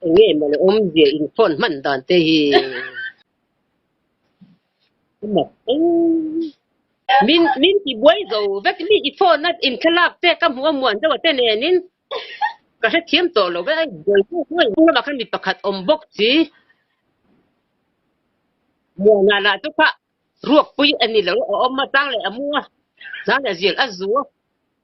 Enge mawle awmzia in phone hman dan te hi. Mak eng. Min min ti buai zo vek mi i phone nat in thlalak te ka hmu a muan deuh ate nen in ka hre thiam tawh lo ve ai buai chu hnuai hnung lamah khan mi pakhat awm bawk chi muana lah chu kha ruak pui a ni lo a awm a tang leh a mu a tang leh a zir a zu a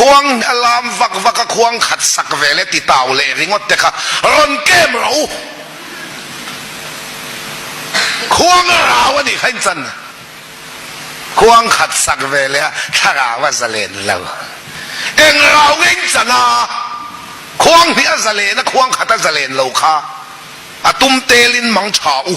Khuang a lam vak vak a, khuang khat sak ve le titau leh ringawt te kha rawn kem rawh u. Khuang a rau a nih kha inchan a, khuang khat sak ve leh a thlarau a za len lo. Eng rau nge inchan a, khuang hnih a za len a, khuang khat a za len lo kha a tum tel in mang tha u.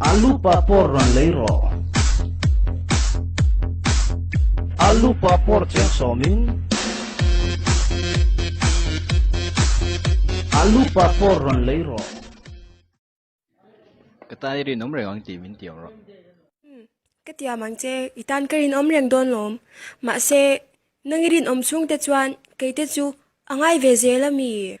Alupa por rawn lei rawh. Alupa por chiang sawmin. Alupa por rawn lei rawh. Ka tan i rinawm reng ang tih min ti ang rawh. Umm, ka ti ang mang che, i tan ka rinawm reng dawn lawm. Mahse, nang i rinawm chhungte chuan keite chu a ngai ve zel a mi?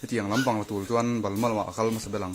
Hetiang lam bang la tul chuan balhma lamah a kal hmasa ber ang.